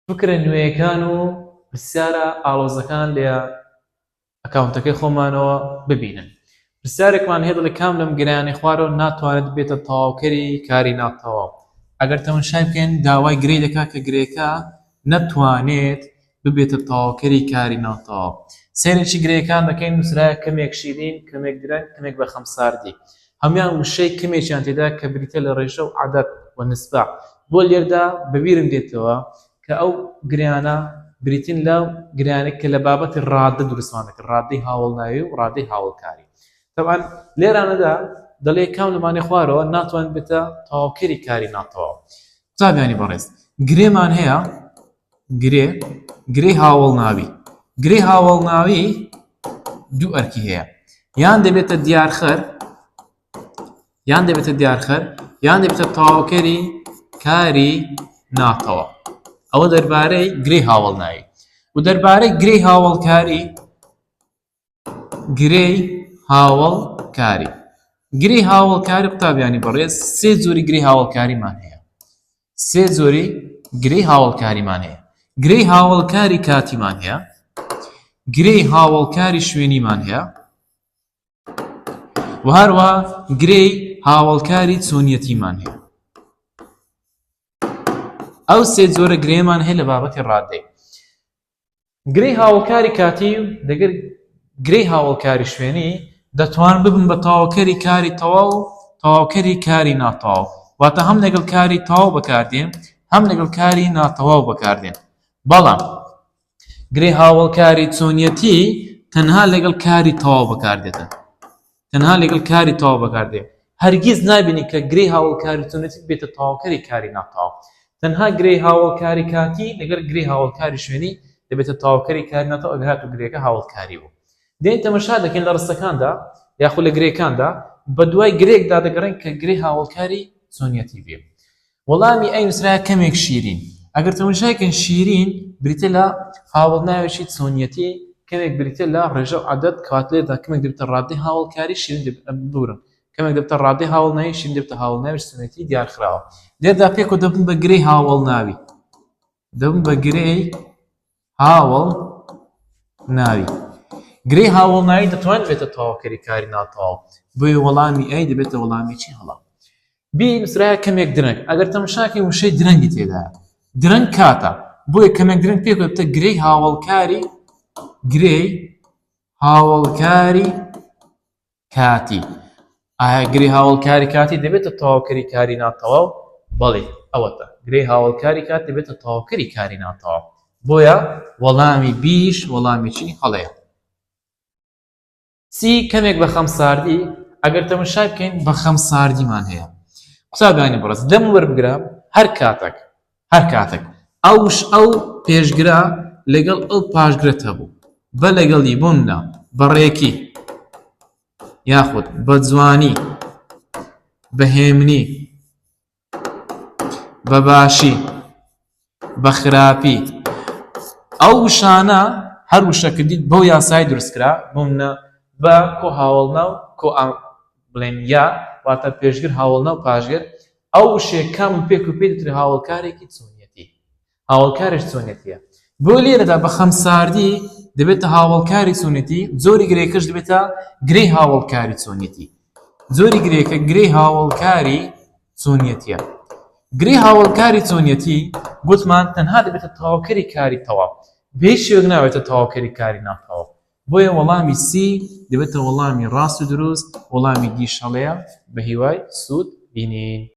فکرە نوێیەکان و پرسیارە ئاڵۆزەکان لە ئەکاونتەکەی خۆمانەوە ببینن پرسیارێکمان هەیە دەڵێ کام لەم گرانی خوارەوە ناتوانێت بێتە تەواوکەری کاری ناتەواو ئەگەر تەمەشای بکەین داوای گرێ دەکات کە گرێکە نەتوانێت ببێتە تەواوکەری کاری ناتەواو سەیرێکی گرێکان دەکەین نووسراە کەمێک شیرین کەمێک درەنگ کەمێک بە خەمساردی هەموان وشەی کەمێکیان تێدایە کە بریتیە لە ڕێژە و عەدەد و نسبە، بۆ لێردا بە بیرم دێتەوە کە ئەو گرێیانە بریتین لە گرێیانێک کە لە بابەتی ڕادە دروستمان دەکرد، ڕادەی هاوەڵناوی و ڕادەی هاوەڵکاری. تەبعەن لێرانەدا دەڵێ کام لەمانەی خوارەوە ناتوانێت بێتە تەواوکەری کاری ناتەواو. قوتابیانی بەڕێز گرێمان هەیە، گرێ، گرێی هاوەڵناوی، گرێی هاوەڵناوی دوو ئەرکی هەیە یان دەبێتە دیارخەر یان دەبێتە دیارخەر یان دەبێتە تەواوکەری کاری ناتەوە ئەوە دەربارەی گرێی هاوەڵناوی و دەربارەی گرێی هاوەڵکاری گرێی هاوەڵکاری گرێی هاوەڵکاری قوتابیانی بەڕێز سێ جۆری گرێی هاوەڵکاریمان هەیە سێ جۆری گرێی هاوەڵکاریمان هەیە گرێی هاوەڵکاری کاتیمان هەیە گرێی هاوەڵکاری شوێنیمان هەیە و هەروە گرێی هاوەڵکاری چۆنیەتیمان هەیە ئەو سێ جۆرە گرێمان هەیە لە بابەتی ڕادەی گرێی هاوەکاری کاتی و دەگەر گرێی هاوەکاری شوێنی دەتوان ببن بە تاوکەری کاری تەواو و تاوکەری کاری ناتەواو واتە هەم لەگەڵ کاری تەواو بەکاردێن هەم لەگەڵ کاری ناتەواو بەکاردێن بەڵام گرێ هاوڵکاری چۆنیەتی تەنها لەگەڵ کاری تەواو بەکاردێتن تەنها لەگەڵ کاری تەواو بەکاردێ. هەرگیز نابینی کە گرێی هاوەڵکاری چۆنێتیک بێتە تەواوکەری کاری ناتەواو. تەنها گرێی هاوەڵکاری کاتی لەگەڵ گرێی هاوەڵکاری شوێنی دەبێتە تەواوکەری کاری ناتەواو ئەگەر هاتوو گرێکە هاوەڵکاری بوو. دێین تەمەشا دەکەین لە ڕستەکاندا یاخود لە گرێکاندا بەدوای گرێکدا دەگەڕێین کە گرێی هاوەڵکاری چۆنیەتی بێ. وەڵامی ئەی نووسراوە کەمێک شیرین. ئەگەر تەموشاکەین شیرین بریتیە لە هاوەڵ ناوێکی چۆنیەتی کەمێک بریتیە لە ڕێژە و عەدەد کەواتە لێرەدا کەمێک دەبێتە ڕادەی هاوەڵکاری شیرین دەبێت ببورن کەمێک دەبێتە ڕادەی هاوەڵ ناوی شیرین دەبێتە هاوەڵ ناوی چۆنیەتی دیارخراوە لێرەدا پێکەوە دەبن بە گرێی هاوەڵ ناوی دەبن بە گرێی هاوڵ ناوی گرێ هاوڵ ناوی دەتوان بێتە تەواوکەری کاری ناتەواو بۆی وەڵامی ئەی دەبێتە وەڵامی چی هەڵا بی نووسراە کەمێک درەنگ ئەگەر تەمەشاکەی وشەی درەنگی تێدا درەنگ کاتە بۆیە کەمێک درەنگ پێ بێتە گرێی هاوڵکاری گرێی هاوڵکاری کاتی ئاگری هاوڵکاری کاتی دەبێتە تەواوکەری کاری ناتەواو بەڵێ ئەوەتە گرێ هاوڵکاری کات دەبێتە تەواوکەری کاری ناتەواو بۆیە وەڵامی بیش وەڵامی چی هەڵەیە سی کەمێک بە خەم ساردی ئەگەر تەمەشای بکەین بە خەم ساردیمان هەیە قوتابانی بڕست دەم وەربگرە هەر کاتێک هەر کاتەک ئەوش ئەو پێشگرە لەگەڵ ئەو پاشگرت هەبوو بە لەگەڵی بووندا بەڕێکی یاخود بە جوانی بەهێمنی بە باشی بە خراپی ئەو وشانە هەر وشەکردیت بەو یاسای دروستکرا بوونە بە کۆ هاوڵنا و کۆ بڵێن یا واتە پێشگر هاوڵنا و پاشگر ئەو وشەیە کام و پێک و پێی دەترێ هاوەڵکارێکی چۆنیەتی هاوەڵکاریش چۆنیەتیە بۆ لێرەدا بە خەمساردی دەبێتە هاوەڵکاری چۆنیەتی زۆری گرێکەش دەبێتە گرێی هاوەڵکاری چۆنیەتی زۆری گرێکە گرێی هاوەڵکاری چۆنیەتیە گرێ هاوەڵکاری چۆنیەتی گوتمان تەنها دەبێتە تەواوکەری کاری تەواو بێ شوێک ناوێتە تەواوکەری کاری ناتەواو بۆیە وەڵامی سی دەبێتە وەڵامی ڕاست و دروست وەڵامی دیشەڵەیە بە هیوای سوود بینین